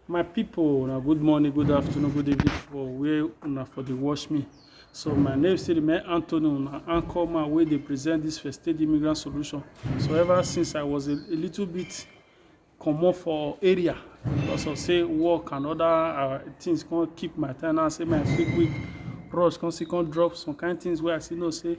my people na good morning good afternoon good evening for where una for dey watch me so my name still remain anthony una anchor man wey dey present this first aid immigrant solution so ever since i was a, a little bit comot for area because of say work and other uh, things come keep my time now say my quick quick rush come still come drop some kind things wey i still know say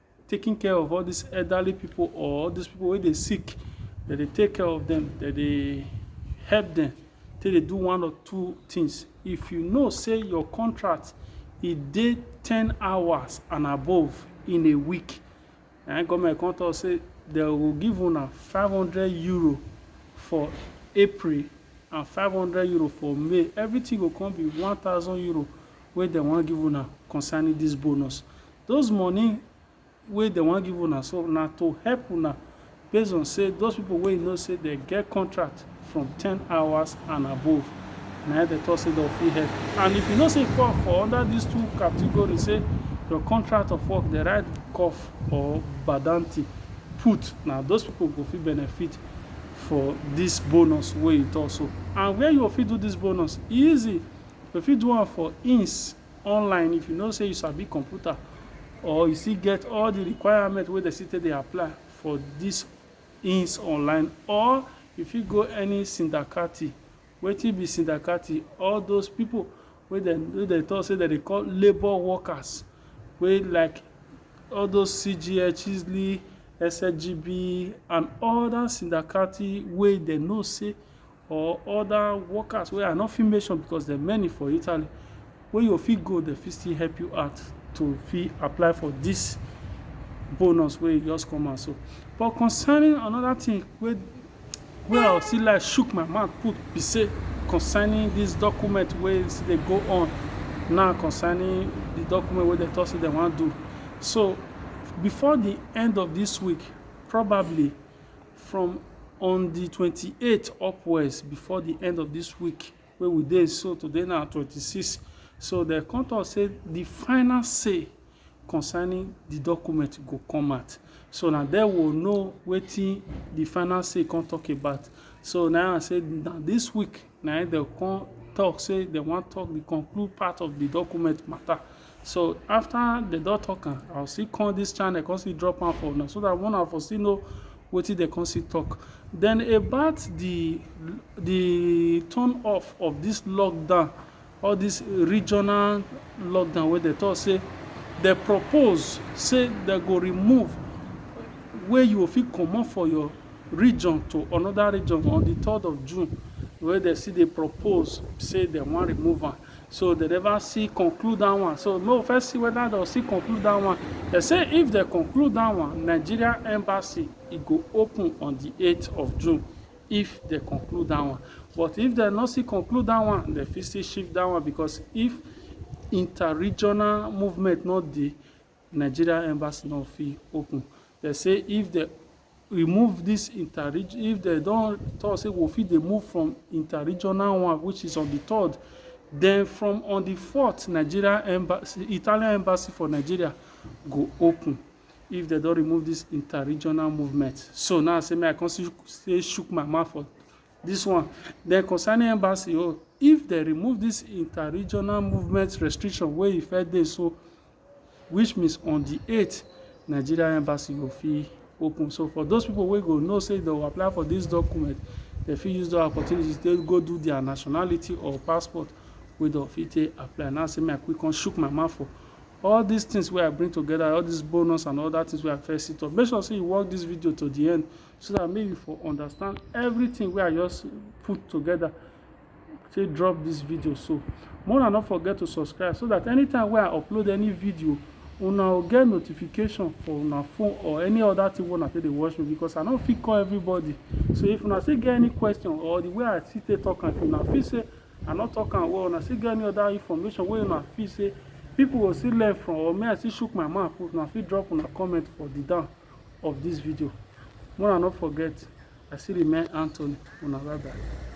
taking care of all these elderly people or all these people wey dey sick dem dey take care of them dem dey help them take dey do one or two things if you know say your contract e dey ten hours and above in a week na im government come talk say dem go give una five hundred euro for April and five hundred euro for May everything go come be one thousand euro wey dem wan give una concerning this bonus Those money wey dem wan give una so na to help una based on say those people wey you know say dem get contract from ten hours and above na im dem talk say dem fit help you and if you know say you fall for under these two category say your contract of work dem write cough or badanti put na those people go fit benefit for this bonus wey you talk so and where you go fit do this bonus e easy you fit do am for ins online if you know sey you sabi computer or you still get all the requirement wey dem still take dey apply for this ins online or you fit go any sindakati. Wetin be sindakati? All those people wey dem wey dem talk sey dem dey call labour workers wey like all those CGHSLI, SSGB and other sindakati wey dem know sey or other workers wey I no fit mention because dem many for Italy wey you fit go dem fit still help you out to fit apply for this bonus wey e just come out so. But concerning another thing wey wey I still like shook my mouth put be say concerning this document wey still dey go on now concerning the document wey dem talk say dem wan do so before the end of this week probably from on di twenty eight upwards before di end of dis week wey we dey so today na twenty six so dem come talk say di final say concerning di document go come out so na there we go know wetin di final say come talk about so na im I say na dis week na im dem come talk say dem wan talk the conclude part of the document matter. So after dem don talk am, I go still come this channel come still drop am for una so that una for still know wetin dem come still talk. Then about the the turn off of this lockdown All dis regional lockdown wey dem talk say dem propose say dem go remove wey you go fit comot for your region to another region on di third of June wey dem still dey propose say dem wan remove am so dem never still conclude dat one so make we first see whether dem go still conclude dat one. Dem say if dem conclude dat one Nigeria embassy e go open on di eight of June if dey conclude that one but if dey no still conclude that one dey fit still shift that one because if inter regional movement no dey Nigeria embassy no fit open dey say if dey remove this inter region if dey don talk say we fit dey move from inter regional one which is on the third then from on the fourth Nigeria embassy Italian embassy for Nigeria go open if dem don remove this inter-regional movement so now say me i come see say shook my mouth for this one then concerning embassy oh if dem remove this inter-regional movement restriction wey e first dey so which means on the 8th nigeria embassy go fit open so for those people wey go know say they will apply for this document they fit use the opportunity to go do their nationality or passport wey dem fit take apply now say me i quick come shook my mouth for All dis things wey I bring together, all dis bonus and other things wey I first see talk, make sure sey you watch dis video to the end so dat make you for understand everything wey I just put together take drop dis video so. Make una no forget to subscribe so dat anytime wey I upload any video, una go get notification for una phone or any other thing wey una take dey watch me because I no fit call everybody. So if una still get any question or the way I still take talk am, if una feel sey I no talk am well. Una still get any other information wey una feel say people go still learn from or make I still shook my mouth put, una fit drop una comment for the down of this video. Make una no forget, I still remain Anthony. Una bye bye.